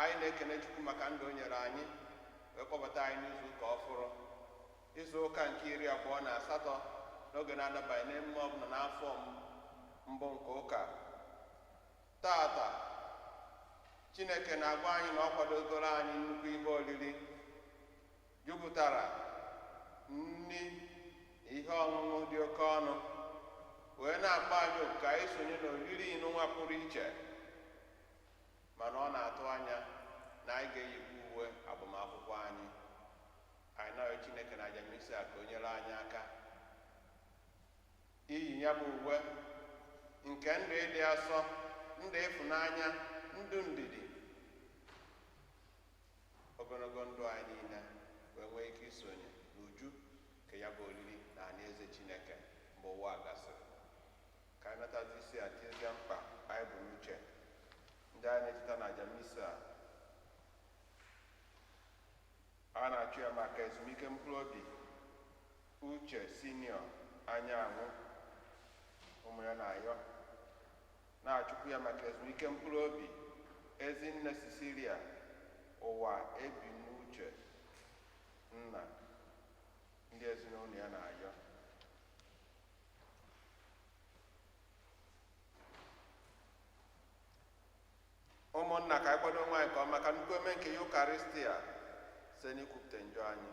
anyị na-ekene chukwu maka ndụ o nyere anyị wee kpọbata anyị n'izu ụka ọfụrụ izu ụka nke iri abụọ na asatọ n'oge na-adabaghị n'emume ọbụla n'afọ mbụ nke ụka taata chineke na-agwa anyị na ọ kwadogoro anyị nnukwu ihe oriri jupụtara nri na ihe ọṅụṅụ dị oke ọnụ wee na-akpọ anyị oku ka anyị sonye n'oriri nụnwa pụrụ iche Mana ọ na-atụ anya na anyị ga-eyikwa uwe agbamakwụkwọ anyị. Anyị na-arịọ Chineke na aja Misa a ka o nyere anyị aka iyi ya bụ uwe nke ndụ ịdị asọ, ndụ ịfụnanya, ndụ ndidi, ogologo ndụ anyị niile wee nwee ike isonye n'uju nke ya bụ oriri na alaeze Chineke mgbe ụwa a gasịrị. ka anyị natazi isi a tiezie mkpa anyị bu n'uche ndị anyị na-echeta na aja misa a a a na-achụ ya maka ezumike mkpụrụ obi uche sinio anyanwụ ụmụ ya na-ayọ na-achụkwu ya maka ezumike mkpụrụ obi ezinne cecilia ụwa ebi n'uche nna ndị ezinụlọ ya na-ayọ ụmụnna ka anyị kwado onwe anyị nke ọma maka nnukwu emume nke yukarịstịa site n'ikwupụta njọ anyị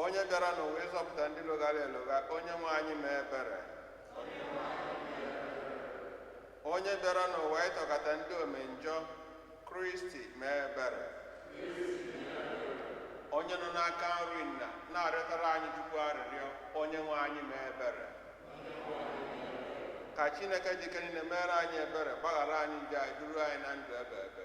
onye bịara n'ụwa ịzọpụta ndị loghara elogha onye nwe anyị mee ebere onye bịara n'ụwa ịchọkọta ndị omenjọ kristi mee ebere onye nọ n'aka nri nna na-arịọtara anyị chukwu arịrịọ onye nwe anyị mee ebere ka chineke ji ike niile meere anyị ebere gbaghara anyị njọ anyị duru anyị na ndụ ebeebe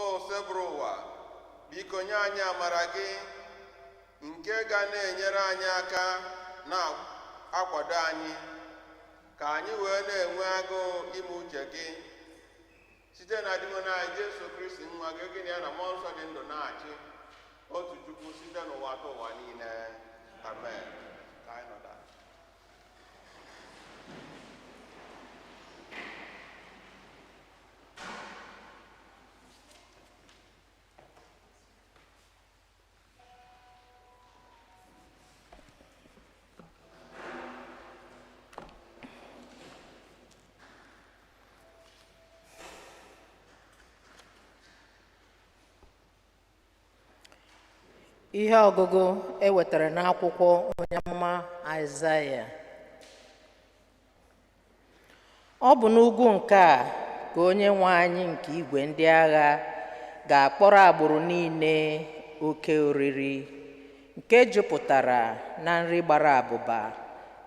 osebụrụwa biko nye anyị amara gị nke ga na-enyere anyị aka na-akwado anyị ka anyị wee na-enwe agụụ ime uche gị site na dinwenụ anyị Jesu Kristi nwa gị gị na ya na mmụọ nsọ dị ndụ na-achị otu Chukwu site n'ụwatụwa niile amen ka anyị nọdụ ihe ọgụgụ e wetara n'akwụkwọ onye amụma Aịzaya Ọ bụ n'ugwu nke a ka onye nwe anyị nke igwe ndị agha ga-akpọrọ agbụrụ niile oke oriri nke jupụtara na nri gbara abụba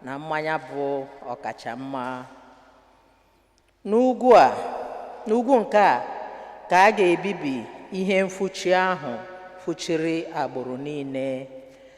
na mmanya bụ ọkacha mma. N'ugwu nke a ka a ga-ebibi ihe mfuchi ahụ fuchiri agbụrụ niile.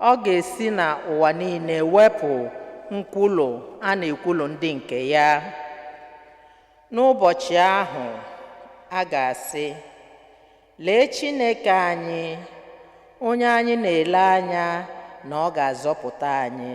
Ọ ga-esi na ụwa niile wepụ nkwulu a na-ekwulu ndị nke ya. N'ụbọchị ahụ, a ga-asị, Lee Chineke anyị, onye anyị na-ele anya na ọ ga-azọpụta anyị.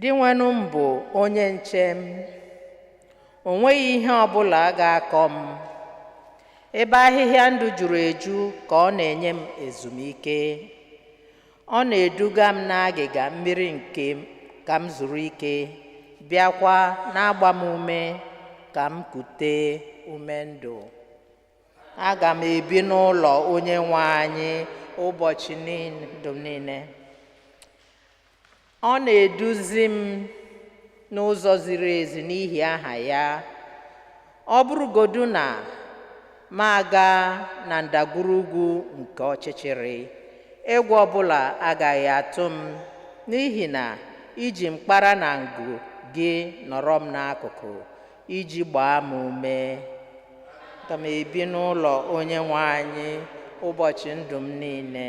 Dinwenụ m bụ onye nche m, o nweghị ihe ọ bụla ga-akọ m. Ebe ahịhịa ndụ juru eju ka ọ na-enye m ezumike. Ọ na-eduga m n'agịga mmiri nke ka m zuru ike, bịakwa na-agba m ume ka m kute ume ndụ. Aga m ebi n'ụlọ Onyenwe anyị ụbọchị ndụ m niile. Ọ na-eduzi m n'ụzọ ziri ezi n'ihi aha ya. Ọ bụrụgodu na m aga na ndagwurugwu nke ọchịchịrị, egwu ọbụla agaghị atụ m, n'ihi na i ji mkpara na ngu gị nọrọ m n'akụkụ iji gbaa m ume. Aga m ebi n'ụlọ Onyenwe anyị ụbọchị ndụ m niile.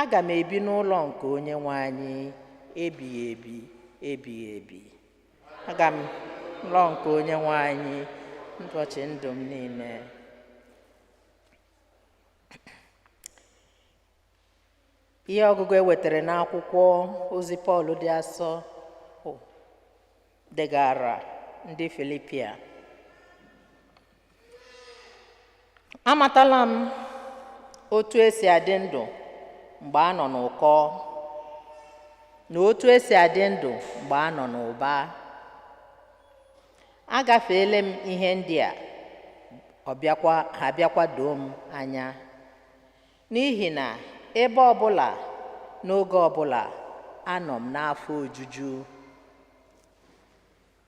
aga m ebi n'ụlọ nke onye nwe anyị ebighị ebi ebighị ebi aga m ụlọ nke onye nwe anyị ụbọchị ndụ m niile ihe ọgụgụ e wetara n'akwụkwọ ozi pọl dị asọ degara ndị filipia amatala m otu e si adị ndụ mgbe a nọ n'ụkọ na otu e si adị ndụ mgbe a nọ n'ụba agafeela m ihe ndị a ha bịakwa doo m anya n'ihi na ebe ọbụla n'oge ọbụla anọ m n'afọ ojuju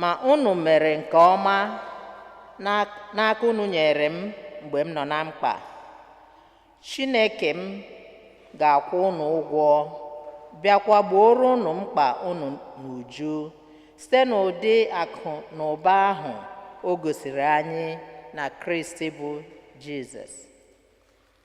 Ma unu mere nke ọma n'aka unu nyere m mgbe m nọ na mkpa. Chineke m ga-akwụ unu ụgwọ, bịakwa gbooro unu mkpa unu n'uju site n'ụdị akụ na ụba ahụ o gosiri anyị na Kristi bụ Jizọs.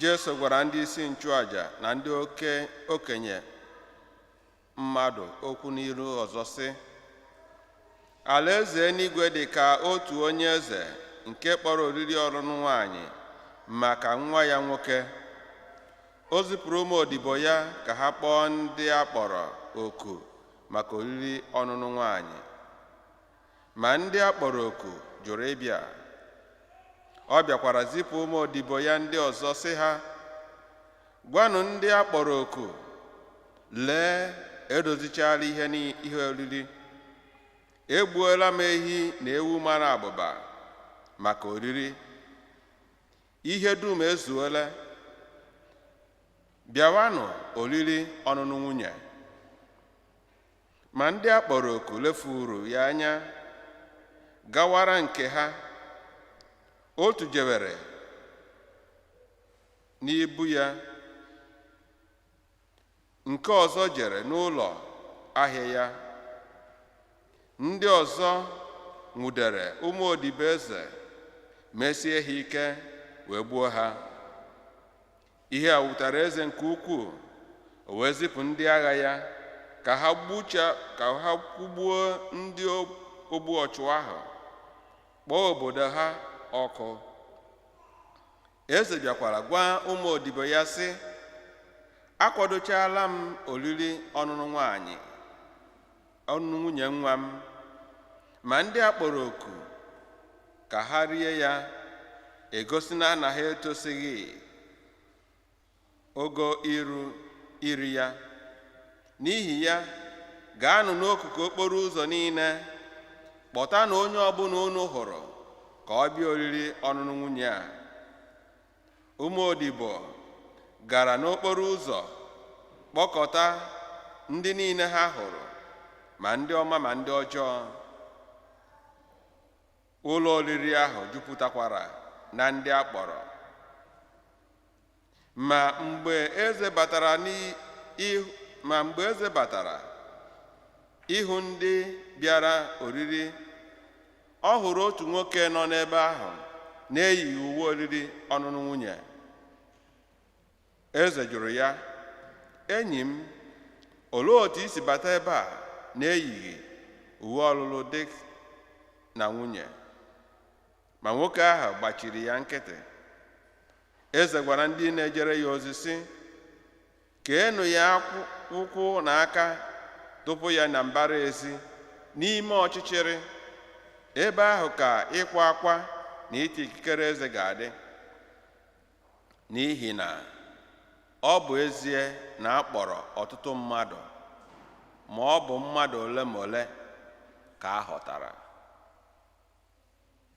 Jesu gwara ndị isi nchụaja na ndị oke okenye mmadụ okwu n'ilu ọzọ sị alaeze eluigwe dị ka otu onye eze nke kpọrọ oriri ọnụnụ nwanyị maka nwa ya nwoke o zipụrụ ụmụ odibo ya ka ha kpọọ ndị a kpọrọ oku maka oriri ọnụnụ nwanyị Ma ndị a kpọrọ oku jụrụ ịbịa. Ọ bịakwara zipụ ụmụ odibo ya ndị ọzọ sị ha, Gwanụ ndị a kpọrọ oku, lee, edozichaala ihe n'ihe oriri. Egbuola m ehi na ewu mara abụba maka oriri. Ihe dum ezuola. Bịawanụ oriri ọnụnụ nwunye. Ma ndị a kpọrọ oku lefuru ya anya gawara nke ha otu jewere n'ubi ya nke ọzọ jere n'ụlọ ahịa ya ndị ọzọ nwụdere ụmụ odibo eze mesie ha ike wee gbuo ha ihe a wutara eze nke ukwuu o wee zipụ ndị agha ya ka ha gbucha ka ha kwụgbuo ndị ogbu ọchụ ahụ kpọọ obodo ha ọkụ eze bịakwara gwa ụmụ odibo ya sị akwadochaala m oriri ọnụnụ nwanyị ọnụnụ nwunye nwa m ma ndị a kpọrọ oku ka ha rie ya egosila na ha etosighị ogo iru iri ya n'ihi ya gaanụ n'akụkụ okporo ụzọ niile kpọtanụ onye ọbụla unu hụrụ ka ọ bịa oriri ọnụnụ nwunye a ụmụ odibo gara n'okporo ụzọ kpọkọta ndị niile ha hụrụ ma ndị ọma ma ndị ọjọọ ụlọ oriri ahụ jupụtakwara na ndị a kpọrọ ma mgbe eze batara ma mgbe eze batara ịhụ ndị bịara oriri ọ hụrụ otu nwoke nọ n'ebe ahụ na-eyighị uwe oriri ọnụnụ nwunye eze jụrụ ya enyi m olee otu i si bata ebe a na-eyighị uwe ọlụlụ di na nwunye ma nwoke ahụ gbachiri ya nkịtị eze gwara ndị na-ejere ya ozi sị keenụ ya ụkwụ na aka tụpụ ya na mbara ezi n'ime ọchịchịrị ebe ahụ ka ịkwa akwa na iti ikikere eze ga-adị n'ihi na ọ bụ ezie na a kpọrọ ọtụtụ mmadụ ma ọ bụ mmadụ ole ma ole ka a họtara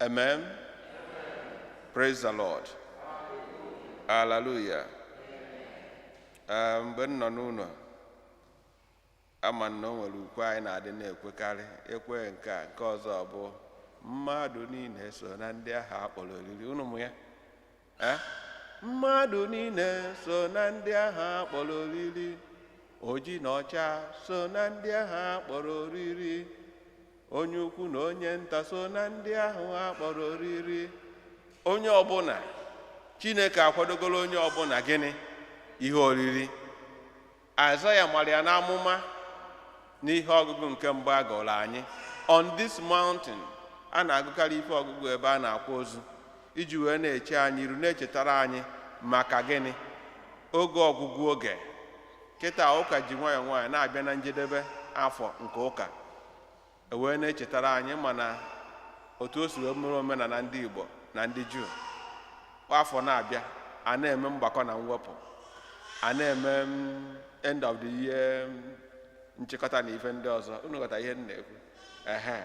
Amen. Amen. Praise the Lord. Hallelujah. Ah, mgbe m nọ n'ụlọ ama na o nwere ukwe anyị na-adị na-ekwekarị ekwe nke a nke ọzọ bụ mmadụ niile so na ndị ahụ a kpọrọ oriri unu ma ya Eh? mmadụ niile so na ndị ahụ a kpọrọ oriri oji na ọcha so na ndị ahụ a kpọrọ oriri onye ukwu na onye nta so na ndị ahụ a kpọrọ oriri onye ọbụla chineke akwadogoro onye ọbụla gịnị ihe oriri Aịzaya mara ya n'amụma n'ihe ọgụgụ nke mbụ a gụụrụ anyị on this mountain a na-agụkarị ife ọgụgụ ebe a na-akwa ozu iji wee na-eche anyị iru na-echetara anyị maka gịnị oge ọgwụgwụ oge kịta ụka ji nwayọọ nwayọọ na-abịa na njedebe afọ nke ụka e wee na-echetara anyị mana otu o si wee mere omenala ndị Igbo na ndị Juu kwa afọ na-abịa a na-eme mgbakọ na mwepụ a na-eme mm, end of the year mm, nchịkọta na ife ndị ọzọ unu ghọta ihe m na-ekwu ehe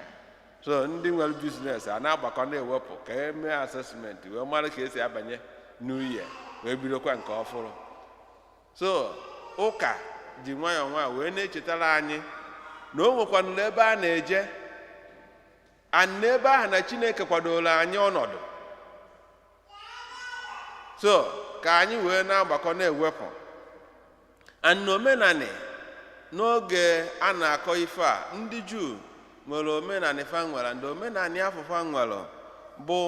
so ndị nwere business a na-agbakọ na-ewepụ ka e mee assessment wee mara ka e si abanye new year wee bidokwa nke ọfụrụ so ụka ji nwayọọ nwayọọ wee na-echetara anyị na o nwekwanụlụ ebe a na-eje and n'ebe ahụ na chineke kwadoro anyị ọnọdụ so ka anyị wee na-agbakọ na-ewepụ and omenanị n'oge a na-akọ ife a ndị juu nwere omenanị fa nwere and omenanị afụ fa nwere bụ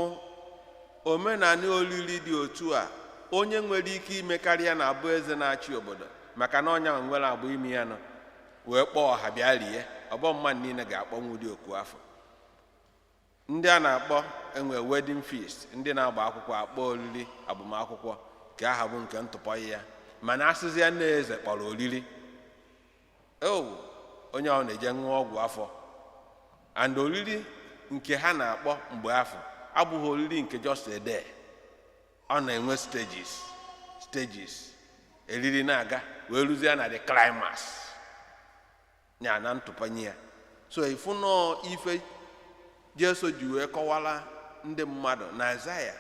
omenala olili dị otu a onye nwere ike imekarị ya na-abụ eze na-achị obodo maka na onye nwere akụ ime ya nọ wee kpọọ ọha bịa rie ọ bụ mmadụ niile ga-akpọnwu ụdị oku afụ ndị a na-akpọ enwe wedding feast ndị na-agba akwụkwọ akpọ oriri agbamakwụkwọ ka aha bụ nke ntụpọ ya mana a sịzia na eze kpọrọ oriri ewu onye ahụ na-eje ṅụọ ọgwụ afọ and oriri nke ha na-akpọ mgbe afụ abụhọ oriri nke just a day ọ na-enwe stages stages e riri na-aga wee ruzie na the climax ya na ntụpanye ya so ị fụnụ ife Jesu ji wee kọwara ndị mmadụ na Aịzaya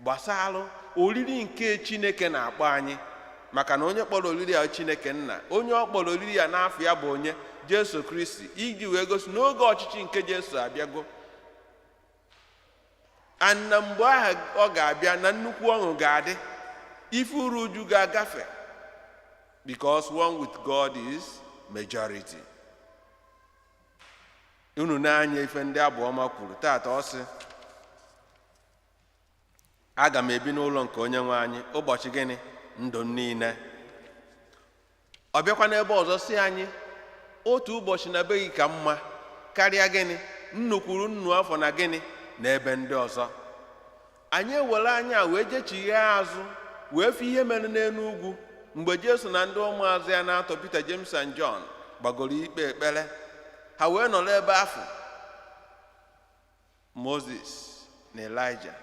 gbasara oriri nke Chineke na-akpọ anyị maka na onye kpọrọ oriri a Chineke nna onye ọ kpọrọ oriri a n'afa ya bụ onye Jesu Kristi iji wee gosi n'oge ọchịchị nke Jesu abịago and na mgbe ahụ ọ ga-abịa na nnukwu ọṅụ ga-adị ife uru uju ga-agafe because one with God is majority. unu na-anụ ife ndị abụ ọma kwuru taata ọ sị aga m ebi n'ụlọ nke onye nwe anyị ụbọchị gịnị ndụ m niile ọ bịakwa n'ebe ọzọ sị anyị otu ụbọchị na be gị ka mma karịa gịnị nnu kwuru nnu afọ na gịnị na ebe ndị ọzọ anyị ewere anya wee jechighaa azụ wee fụ ihe mere n'enu ugwu mgbe jesu na ndị ụmụazụ ya n'atọ peter james and john gbagoro ikpe ekpere ha wee nọrọ ebe afụ moses na elijah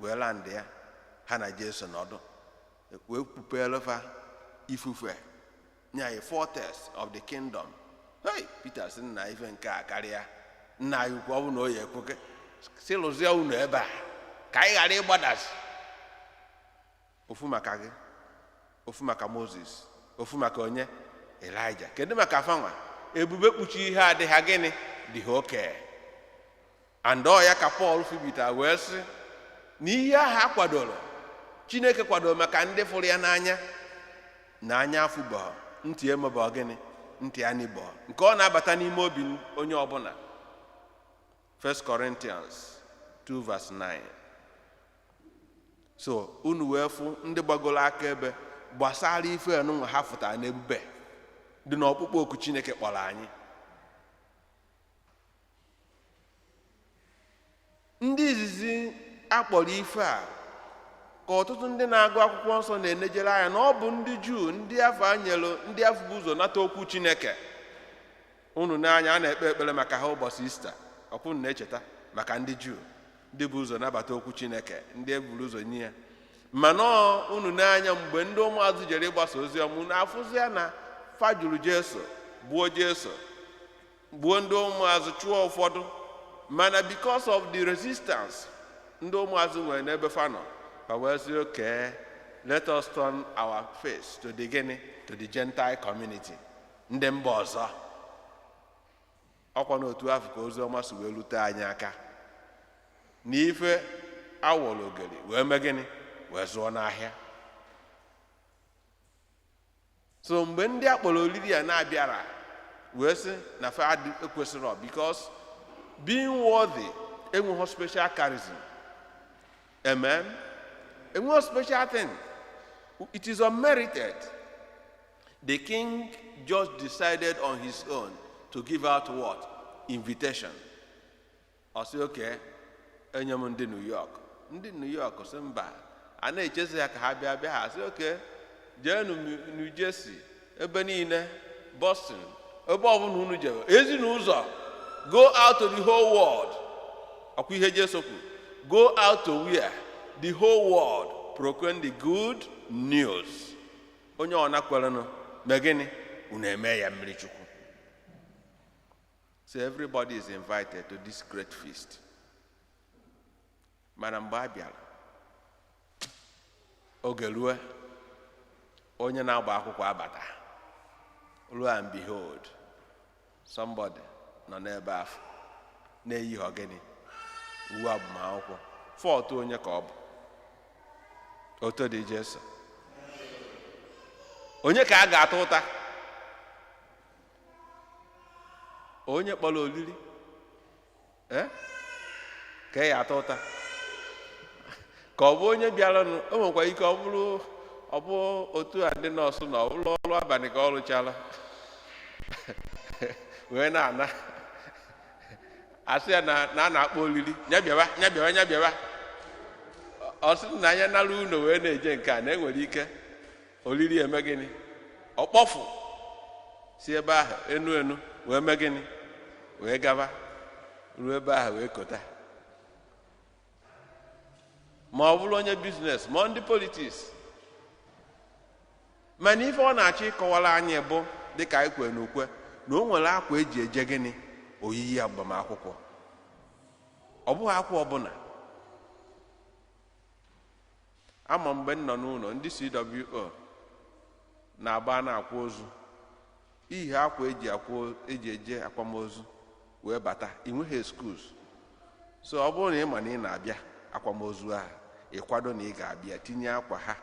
wee landịa ha na jesu nọdụ wee kpupeelụ fa ifufe nye anyị foretaste of the kingdom hey Peter sị na ife nke a akarịa nna anyị ukwu ọ bụ na ọ ya-ekwe ka e si lụzie ụnọ ebe a ka anyị ghara ịgbadasị ofu maka gị ofu maka Moses ofu maka onye Elijah kedu maka fanwa ebube kpuchii ha adị ha gịnị dị ha okay and ọ ya ka paul fụbita wee sị na ihe ahụ a kwadoro chineke kwadoro maka ndị fụrụ ya n'anya na anya afụbọọ ntị emebọọ gịnị ntị anụbọọ nke ọ na-abata n'ime obi onye ọbụna 1 Corinthians 2 verse 9 so unu wee fụ ndị gbagoro akaebe gbasara ife anụnwa ha fụtara na ebube dị n'ọkpụkpọ oku chineke kpọrọ anyị ndị izizi a kpọrọ ife a ka ọtụtụ ndị na-agụ akwụkwọ nsọ na-enejere anya na ọ bụ ndị juu ndị afụ e nyelụ ndị afụ bu ụzọ nata okwu chineke unu na-anụ ya a na-ekpe ekpere maka ha ụbọchị easter ọ kwa unu na-echeta maka ndị juu ndị bu ụzọ nabata okwu chineke ndị e buru ụzọ nye ya mana unu na-anụ ya mgbe ndị ụmụazụ jere ịgbasa ozi ọma unu afụzia na fa jụrụ jesu gbuo jesu gbuo ndị ụmụazụ chụọ ụfọdụ mana because of the resistance ndị ụmụazụ nwere n'ebe fa nọ fa wee sị okay let us turn our face to the gịnị to the gentile community ndị mba ọzọ ọ kwa n'otu afụ ka ozi ọma si wee lute anyị aka na ife a wọrọ ogeri wee mee gịnị wee zụọ n'ahịa so mgbe ndị a kpọrọ oriri a na-abịara wee sị na fa ekwesịrọ because being worthy enweghị special charism amen enweghị special thing it is unmerited the king just decided on his own to give out what invitation ọ sị okay e nye m ndị New York ndị New York sị mba a na-echezi ha ka ha bịa bịa ha sị okay jeenụ New Jersey ebe niile Boston ebe ọbụla unu jere ezi n'ụzọ go out to the whole world ọ kwa ihe Jesu kwuru go out to where the whole world proclaim the good news onye ọbụna kwerenụ mee gịnị unu eme ya mmiri Chukwu So everybody is invited to this great feast. Mana mgbe a bịara, oge ruo onye na-agba akwụkwọ abata. Lo and behold, somebody nọ n'ebe afụ na-eyighị gịnị uwe agbamakwụkwọ fault onye ka ọ bụ otito dịrị Jesu onye ka a ga-ata ụta onye kpọrọ olili eh? ka a ya-ata ụta ka ọ bụ onye bịaranụ o nwekwa ike ọ bụrụ ọ bụ otu a ndị nurse na-arụ ọrụ abalị ka ọ rụchara wee na-ana a sị ya na a na-akpọ olili nya bịawa nya bịawa nya bịawa ọ sị na anya nara unu wee na-eje nke a na enwere ike olili eme gịnị ọkpọfụ si ebe ahụ enu enu wee mee gịnị wee gaba ruo ebe ahụ wee kota ma ọ bụrụ onye business ma ndị politics mana ife ọ na-achọ ịkọwara anyị bụ dịka anyị kwere n'ukwe na o nwere akwa e ji eje gịnị oriri agbamakwụkwọ ọ bụghị akwa ọbụla ama m mgbe m nọ n'ụlọ ndị CWO na-agba a na-akwa ozu ihe akwa eji akwa eji eje akwamozu wee bata ị nweghị excuse so ọ bụrụ na ị ma na ị na-abịa akwamozu ahụ ịkwado na ị ga-abịa tinye akwa ha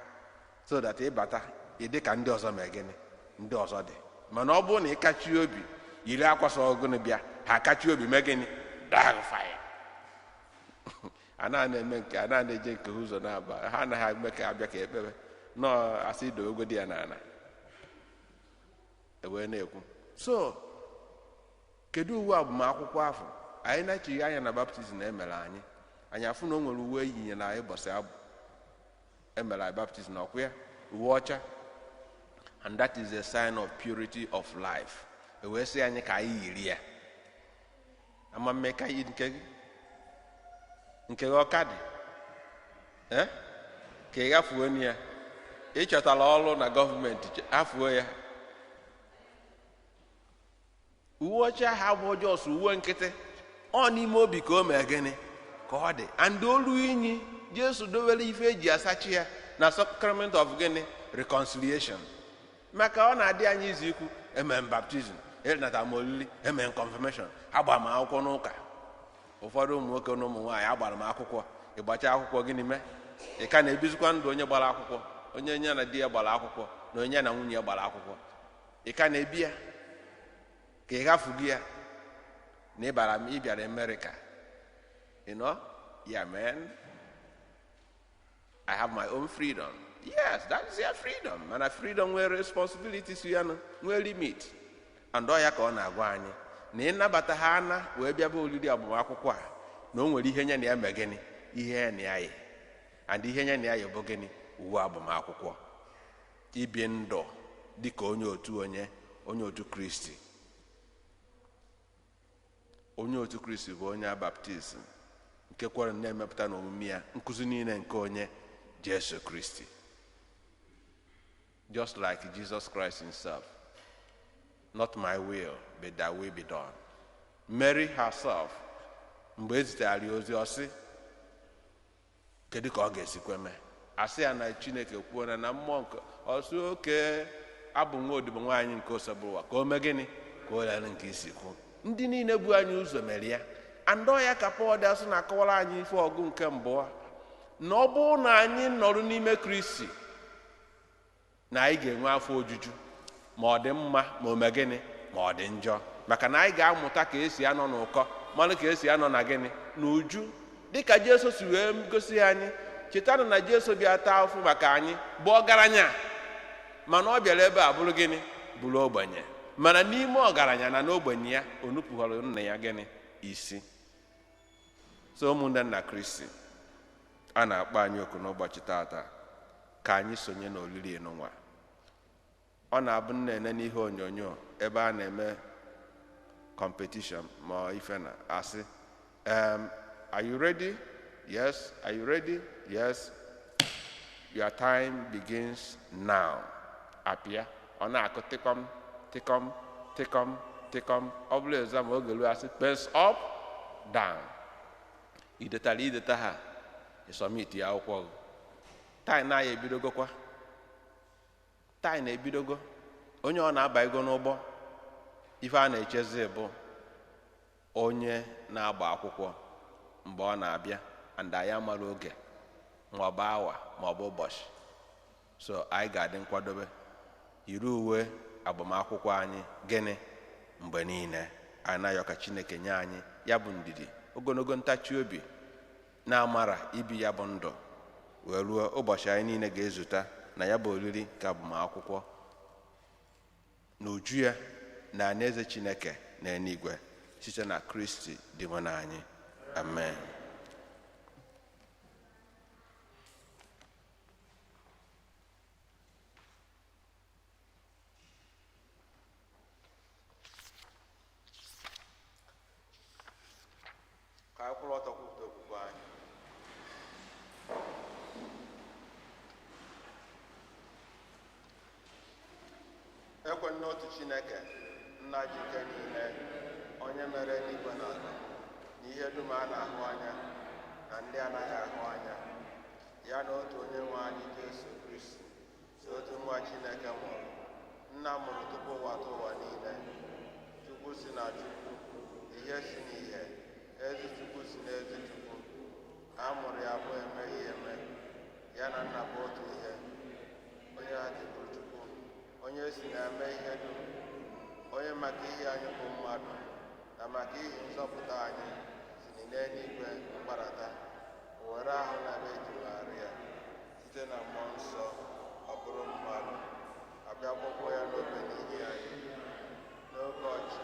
so that ị bata ị dị ka ndị ọzọ mee gịnị ndị ọzọ dị mana ọ bụrụ na ị kachi obi yiri akwa sọ ọgụnụ bịa ha akachi obi mee gịnị daa gị fine a na-ana eme nke a na-ana eje nke ha ụzọ na-aba ha anaghị eme ka abịa ka e kpebe no a sị dowegodi ya n'ala ewee na-ekwu so kedu uwe agbamakwụkwọ afụ anyị nechie anya na baptizim e mere anyị anyị afụ na o nwere uwe e yinyere anyị bọsị afụ e mere anyị baptizim na ọkwa ya uwe ọcha and that is a sign of purity of life ewee sị anyị ka anyị yiri ya ama mme ka yi nke gị nke gị ọ ka dị Eh? ka ị ghafuona ya ị chọtara ọrụ na gọọmenti ghafuo ya uwe ọcha ahụ abụrọ just uwe nkịtị ọ n'ime obi ka o mee gịnị ka ọ dị and o lu inyi jesu dowere ife e ji asacha ya na sacrament of gịnị reconciliation maka ọ na-adị anyị easy ikwu eme m baptizim anata m olili eme m kọnfirmeshọn agbara m akwụkwọ n'ụka ụfọdụ ụmụ nwoke na ụmụ nwaanyị agbara m akwụkwọ ị gbachaa akwụkwọ gịnị mee ị ka na-ebizikwa ndụ onye gbara akwụkwọ onye onye na di ya gbara akwụkwọ na onye na nwunye ya gbara akwụkwọ ị ka na-ebi ya ka ị ghafugo ya na ịbara m ị bịara amerịka you know yeah man I have my own freedom. Yes, that is your freedom. Mana freedom nwere responsibility so ya nụ, nwee limit. And ọ ya ka ọ na-agwa anyị na ịnabata ha ana wee bịaba oriri agbamakwụkwọ a na o nwere ihe nye na ya mee gịnị ihe ya na ya yi and ihe nye na ya yi bụ gịnị uwe agbamakwụkwọ ibi ndụ dị ka onye otu onye onye otu kristi onye otu kristi bụ onye baptizim nke kwere na-emepụta n'omume ya nkụzi niile nke onye jesu kristi just like Jesus Christ himself not my will but thy will be done Mary herself mgbe e zitere ya ozi ọ sị Kedu ka ọ ga-esikwa mee? A sị ya na Chineke kwuola na mmụọ nke ọ sị okay abụ m nwa odibo nwaanyị nke Osebụrụwa ka o mee gịnị ka o leere m ka i si kwuo ndị niile bu anyị ụzọ mere ya and ọ ya ka Pọl dị asọ na-akọwara anyị ife ọgụgụ nke abụọ na ọ bụrụ na anyị nọrọ n'ime Kristi na anyị ga-enwe afọ ojuju ma ọ dị mma ma o mee gịnị ma ọ dị njọ maka na anyị ga-amụta ka esi anọ n'ụkọ malụ ka esi anọ na gịnị na uju dịka Jesu si wee gosi anyị chetanụ na Jesu bịa taa afụfụ maka anyị bụ ọgaranya mana ọ bịara ebe a bụrụ gịnị bụrụ ogbenye mana n'ime ọgaranya na n'ogbenye ya o nupụghọrọ nna ya gịnị isi so ụmụnne m na kristi a na-akpọ anyị oku n'ụbọchị tata ka anyị sonye n'olili nụnwa ọ na-abụ m na-ene n'ihe onyonyo ebe a na-eme competition ma ife na-asị um, are you ready yes are you ready yes your time begins now apịa ọ na-akụ tịkọm tịkọm tịkọm tịkọm ọ bụrụ exam oge ruo asị pens up down i detara i detaha ị submit akwụkwọ gị time anyị ebidogokwa time anyị ebidogo onye ọbụna abago n'ụgbọ ife a na-echezi bụ onye na-agba akwụkwọ mgbe ọ na-abịa and anyị amarọ oge maọbụ awa maọbụ ụbọchị so anyị ga-adị nkwadobe yiri uwe agbamakwụkwọ anyị gịnị mgbe niile anyị na-ayọ ka chineke nye anyị ya bụ ndidi ogologo ntachi obi na amara ibi ya bụ ndụ wee ruo ụbọchị anyị niile ga-ezute na ya bụ oriri nke agbamakwụkwọ n'uju ya na ana eze chineke na eluigwe site na kristi dinwenụ anyị amen ka anyị kwụrụ ọtọ kwupụta okwukwe anyị ekwe m n'otu chineke nna ji ike niile onye mere eluigwe na ala na ihe dum a na-ahụ anya na ndị anaghị ahụ anya ya na otu onye nwe anyị jesu kristi sọ otu nwa chineke mụrụ nna mụrụ tupu ụwatụwa niile chukwu si na chukwu ihe si na ihe ezi chukwu si na ezi chukwu a mụrụ ya amụ emeghị eme ya na nna bụ otu ihe onye ha ji bụ Chukwu onye e si na ya mee ihe dum onye maka ihi anyị bụ mmadụ na maka ihi nzọpụta anyị si n'eluigwe gbadata were ahụ na afọ vejin Maria site na mmụọ nsọ ọ bụrụ mmadụ a bịa kpọgbuo ya n'obe n'ihi anyị n'oge ọchịchị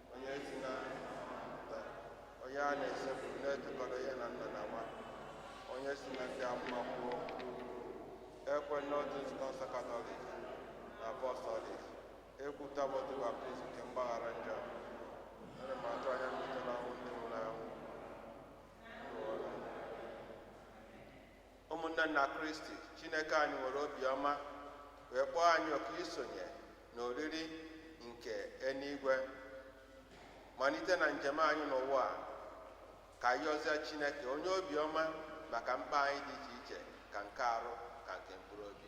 onye si na onye a na-esekpuru na-etokọta ya na nna na nwa onye si na ndị amụma kwuo ekwe m n'otu nzukọ nsọ katọlik na apọstọlik ekwupụta m otu baptizim nke mgbaghara njọ ana m atụ anya mbilite n'ọnwụ ndị nwụrụ anwụ ụmụnne na kristi chineke anyị nwere obiọma wee kpọọ anyị oku isonye na oriri nke eluigwe malite na njem anyị n'ụwa a ka anyị yọzịa chineke onye obiọma maka mkpa anyị dị iche iche ka nke arụ ka nke mkpụrụ obi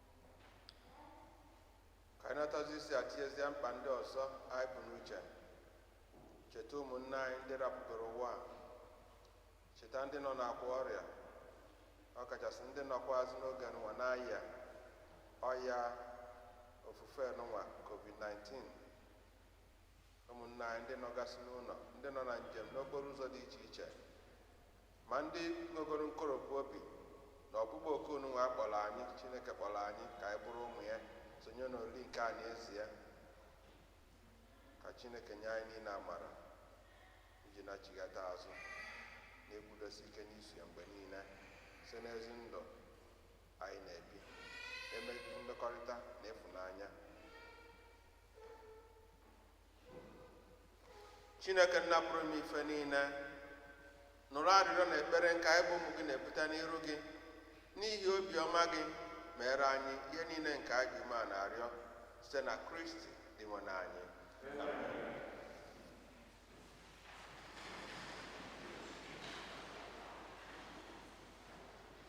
ka anyị natazi isi atiezie mkpa ndị ọzọ anyị bu n'uche cheta ụmụnne anyị ndị rapụgoro ụwa a. cheta ndị nọ n'akwa ọrịa ọkachasị ndị nọkwazị n'oge nụnwa na-arịa ọya ofufe nụnwa covid-19 ụmụnne anyị ndị nọgasị n'ụlọ ndị nọ na njem n'okporo ụzọ dị iche iche Ma ndị nwegoro nkoropụ obi na ọkpụkpọ oku nụnwa a kpọrọ anyị, Chineke kpọrọ anyị ka anyị bụrụ ụmụ ya, sonye n'olili nke a n'ezie. Ka Chineke nye anyị niile amara iji nachigata azụ na ịkwụdosi ike n'iso ya mgbe niile site n'ezi ndụ anyị na-ebi eme mmekọrịta na ịfụnanya chineke nna pụrụ ime ife niile nụrụ arịrịọ na ekpere nke anyị bụ ụmụ gị na-ebute n'iru gị n'ihi obiọma gị meere anyị ihe niile nke anyị ji umeana arịọ site na kristi dinwenu anyị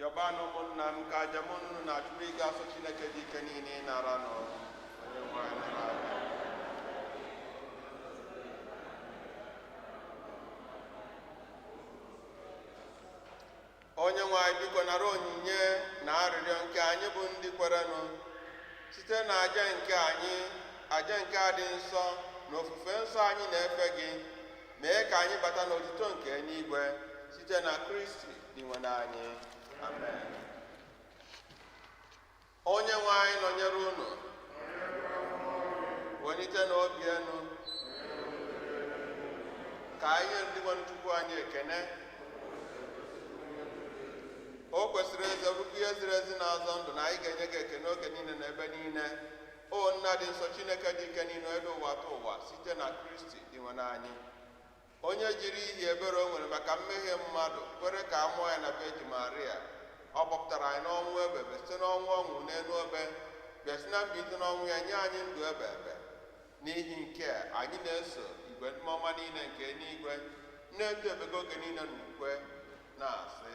yọbanụ ụmụnna m ka aja m na unu na-achụ bụrụ ihe ga-asọ chineke ji ike niile ịnara onye nwe anyị nara aja onye nwe anyị biko nara onyinye na arịrịọ nke anyị bụ ndị kwerenụ site na aja nke anyị aja nke a dị nsọ na ofufe nsọ anyị na-efe gị mee ka anyị bata n'otuto nke eluigwe site na kristi Dinwenu anyị, amen. Onye nwe anyị nọnyere unu, welitenụ obi enu, ka anyị nye Dinwenu Chukwu anyị ekene. O kwesịrị n'ezie bụrụkwa ihe ziri ezi na-azọ ndụ na anyị ga-enye gị ekene oge niile na ebe niile. O nna dị nsọ Chineke ji ike niile dị ụwatụwa site na Kristi Dinwenu anyị. onye jiri ihi ebere o nwere maka mmehie mmadụ kwere ka a mụọ ya na vejin maria ọ kpọpụtara anyị n'ọnwụ ebe ebe site n'ọnwụ ọ nwụrụ n'elu obe bịa si na mbilite n'ọnwụ ya nye anyị ndụ ebe ebe n'ihi nke a, anyị na-eso igwe ndị mmụọ ọma niile nke eluigwe na-eto ebube gị oge niile n'ukwe na-asị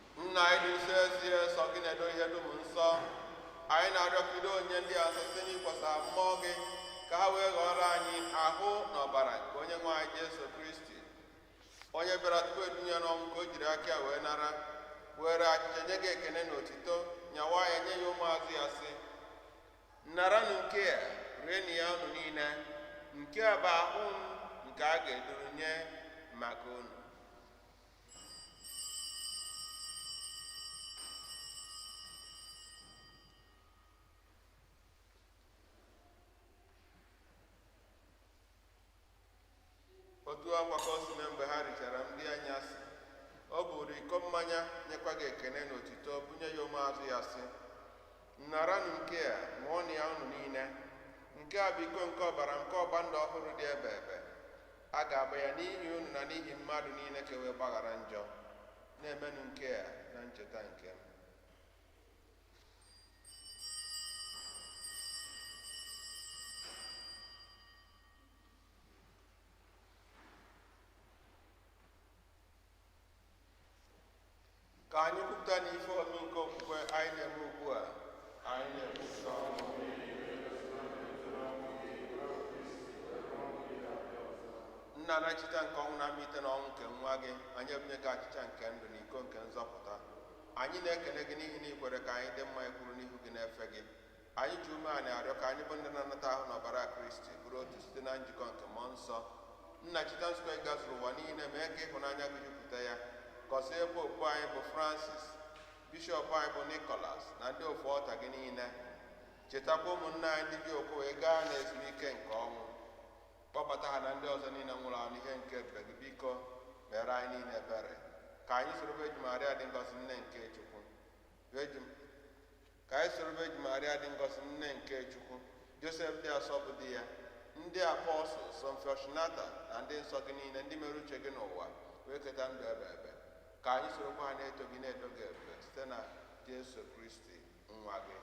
nna anyị dị nsọ ezie sọ gị na-edo ihe dum nsọ anyị na-arịọ ka i doo onyinye ndị a nsọ site n'ịkwọsa mmụọ gị ka ha wee ghọọrọ anyị ahụ na ọbara nke onye nwe anyị jesu kristi onye bịara tupu e dunye n'ọnwụ nke o jiri aka ya wee nara were achịcha nye gị ekene na otito nyawaa ya nye ya ụmụazụ ya sị naranụ nke a rienụ ya unu niile nke a bụ ahụ m nke a ga-eduru nye maka unu otu a kwa ka o si mee mgbe ha richara nri anyasị o buru iko mmanya nyekwa gị ekene na otito bunye ya ụmụazụ ya sị naranụ nke a ṅụọnụ ya unu niile nke a bụ iko nke ọbara nke ọgba ndụ ọhụrụ dị ebe ebe a ga-agba ya n'ihi unu na n'ihi mmadụ niile ka e wee gbaghara njọ na-emenụ nke a na ncheta nke m ka anyị kwupụtanụ ife omimi nke okwukwe anyị na-eme ugbu a anyị na-ekwupụta ọnwụ nna na ncheta nke ọnwụ na mbilite n'ọnwụ nke nwa gị anyị ebunye gị achịcha nke ndụ na iko nke nzọpụta anyị na-ekele gị n'ihi na i kwere ka anyị dị mma ịkwụrụ n'ihu gị na-efe gị anyị ji umeana arịọ ka anyị bụ ndị na-anata ahụ na ọbara kristi bụrụ otu site na njikọ nke mmụọ nsọ nna cheta nzukọ gị gazuru ụwa niile mee ka ịhụnanya gị jupụta ya gọzie popu anyị bụ francis bishọp anyị bụ nikolas na ndị ofu ọta gị niile chetakwa ụmụnna anyị ndị ji okwukwe gaa n'ezumike nke ọnwụ kpọbata ha na ndị ọzọ niile nwụrụ anwụ n'ihe nke ebube gị biko mere anyị niile ebere ka anyị soro Virgin Maria dị ngọzi nne nke Chukwu Josef ka anyị soro Vejin Maria dị ngọzi nne nke Chukwu Josef dị asọ bụ di ya ndị apọstụl Saint Fortunata na ndị nsọ gị niile ndị mere uche gị n'ụwa wee keta ndụ ebe ebe ka anyị sorokwa ha na-eto gị na-eto gị ebube site na Jesu Kristi nwa gị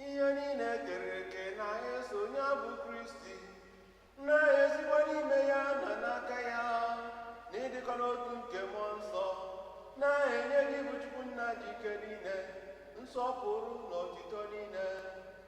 ihe niile e kere eke na-eso onye a bụ kristi na-esikwa n'ime ya na n'aka ya n'ịdịkọ n'otu nke mmụọ nsọ na-enye gị bụ chukwu nna ji ike niile nsọpụrụ na otito niile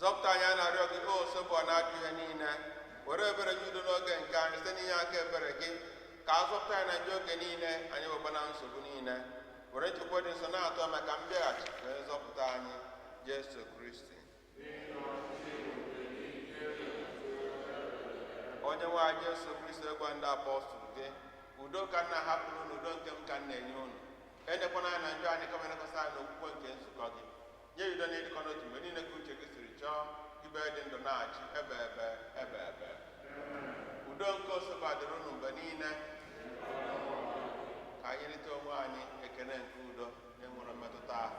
zọpụta anyị a na-arịọ gị osebụrụwa n'ajọ ihe niile were ebere nye udo n'oge nke anyị site n'inye aka ebere gị ka a zọpụta anyị na njọ oge niile anyị weba na nsogbu niile were nchekwube dị nsọ na-atụ anya maka mbịaghachi onye nzọpụta anyị jesu kristi onye nwe anyị Jesu Kristi ị gwara ndị apọstụl gị udo ka m na-ahapụrụ unu udo nke m ka m na-enye unu elekwana anya na njọ anyị kama lekwasị anya n'okwukwe nke nzukọ gị nye ya udo na ịdịkọ n'otu mgbe niile ka uche gị siri chọọ ebe ị dị ndụ na-achị ebebe ebebe udo nke osebụrụwa dịrị unu mgbe niile ka anyị nyerịta onwe anyị ekele nke udo na-enweghị mmetụta ahụ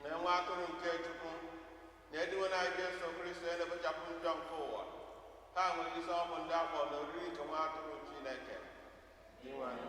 nee nwa atụrụ nke Chukwu nee dinwenụ anyị Jesu Kristi na-ekpochapụ njọ nke ụwa ha nwere isi ọma bụ ndị a kpọrọ oriri nke nwa atụrụ Chineke onye nwe anyị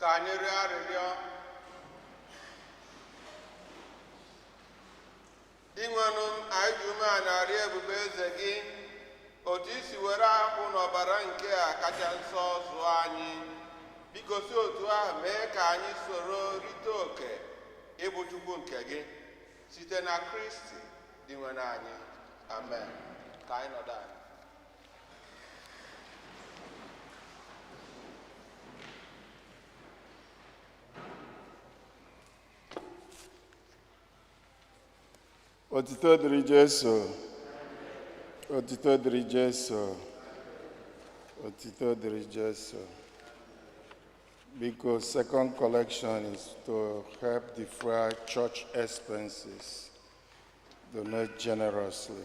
ka anyị rịọ arịrịọ dinwenụ m anyị ji umeana arịọ ebube eze gị otu i si were ahụ na ọbara nke a kacha nsọ zụọ anyị biko si otu ahụ mee ka anyị soro rite oke ịbụ chukwu nke gị site na kristi dinwenụ anyị amen ka anyị nọdụ anị Otito dịrị Jesu. Otito dịrị Jesu. Otito dịrị Jesu. Biko, second collection is to help defray church expenses. Donate generously.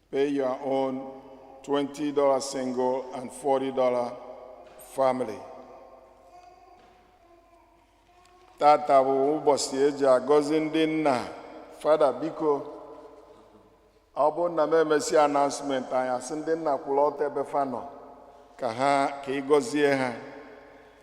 Pay your own $20 single and $40 family. tata bụ ụbọsị e ji agọzi ndị nna fada biko ọ bụrụ na m emesịa announcement anyị asị ndị nna kwụrụ ọtọ ebe fa nọ ka ha ka ị gọzie ha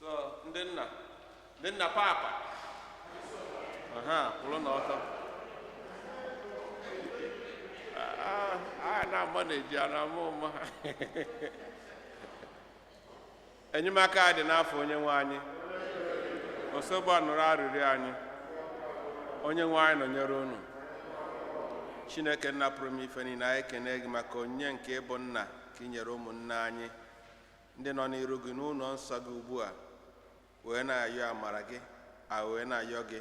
so ndị nna ndị nna papa ha kwụrụ n'ọtọ Ah, a na-agba na-eji a na-ama ụma enyemaka anyị dị n'afa onye nwe anyị osebụrụwa nụrụ arịrịọ anyị onye nwe anyị nọnyere unu chineke nna pụrụ ime ife niile anyị ekene gị maka onyinye nke ịbụ nna nke i nyere ụmụnne anyị ndị nọ n'iru gị n'ụlọ nsọ gị ugbu a wee na-ayọ amara gị a wee na-ayọ gị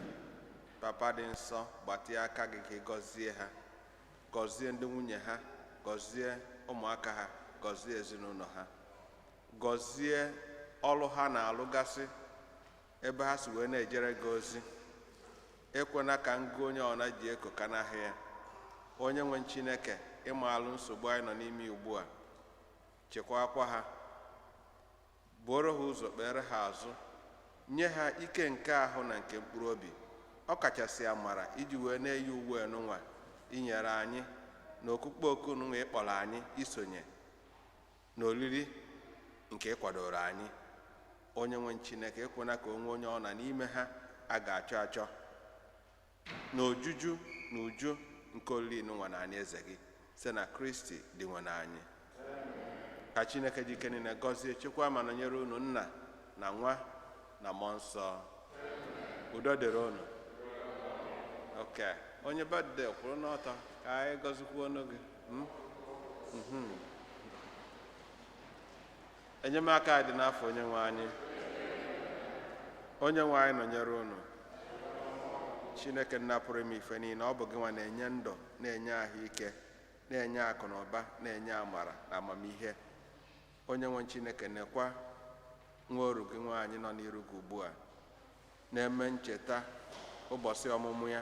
papa dị nsọ gbatịa aka gị ka ị gọzie ha gọzie ndị nwunye ha gọzie ụmụaka ha gọzie ezinụlọ ha gọzie ọrụ ha na-alụgasị ebe ha si wee na-ejere gị ozi ekwena ka ngụ onye ọna ji eko kanahị ya onye nwe chineke ị maalụ nsogbu anyị nọ n'ime ugbu a chekwaakwa ha buoro ha ụzọ kpeere ha azụ nye ha ike nke ahụ na nke mkpụrụ obi ọ kachasị amara iji wee na-eyi uwe nụnwa i nyere anyị na ọkpụkpọ oku nụnwa ị kpọrọ anyị isonye na oriri nke ị kwadooro anyị onye nwe chineke ekwena ka o nwee onye ọ na n'ime ha a ga-achọ achọ na ojuju na uju nke olili nụnwa n'anị eze gị site na kristi dinwenụ anyị ka chineke ji ike niile gọzie chekwa ma nọnyere unu nna na nwa na mmụọ nsọ udo dịrị unu okay onye birthday kwụrụ n'ọtọ ka anyị gọzikwuonụ gị hmm? mhm. enyemaka anyị dị n'afa onye nwe anyị onye nwe anyị nọnyere unu chineke nna pụrụ ime ife niile ọ bụ gị nwa na-enye ndụ na-enye ahụike na-enye akụ na ụba na-enye amara na amamihe onye nwe chineke nekwa nwa oru gị nwaanyị nọ n'iru gị ugbu a na-eme ncheta ụbọsị ọmụmụ ya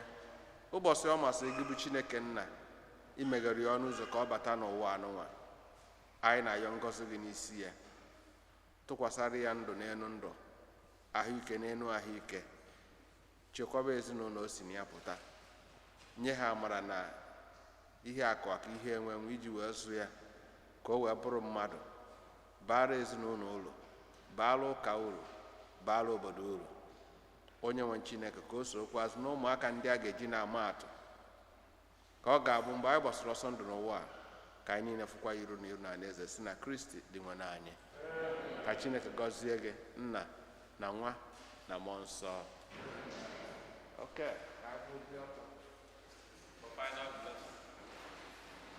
ụbọsị ọ masịrị gị bụ chineke nna imeghere ya ọnụ ụzọ ka ọ bata n'ụwa anụnwa anyị na-ayọ ngọzi gị n'isi ya tụkwasara ya ndụ n'elu ndụ ahụike n'elu ahụike chekwaba ezinụlọ o si na ya pụta nye ha amara na ihe akụ aka ihe enwe enwe iji wee zụọ ya ka o wee bụrụ mmadụ baara ezinụlọ uru baara ụka uru baara obodo uru onye nwe chineke ka o sokwuazị na ụmụaka ndị a ga-eji na-ama atụ ka ọ ga-abụ mgbe anyị gbasara ọsọ ndụ n'ụwa a ka anyị niile fụkwa iru na iru n'alaeze si na kristi dinwenụ anyị ka chineke gọzie gị nna na nwa na mmụọ nsọ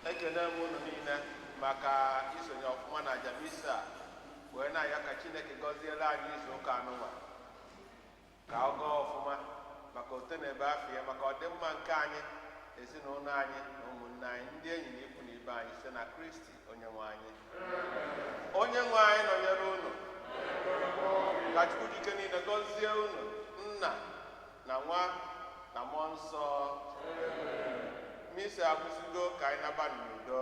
ekene m unu niile maka isonye ọfụma n'aja misa wee na-ayọ ka chineke gọziere anyị izu ụka anụnwa ka ọ gaa ọfụma maka otito na ebube afa ya maka ọdịmma nke anyị ezinụlọ anyị na ụmụnne anyị ndị enyi na ikwu na ibe anyị site na kristi onye nwe anyị onye nwe anyị nọnyere unu ka chukwu ji ike niile gọzie unu nna na nwa na mmụọ nsọ misa agwụsịgo ka anyị naba n'udo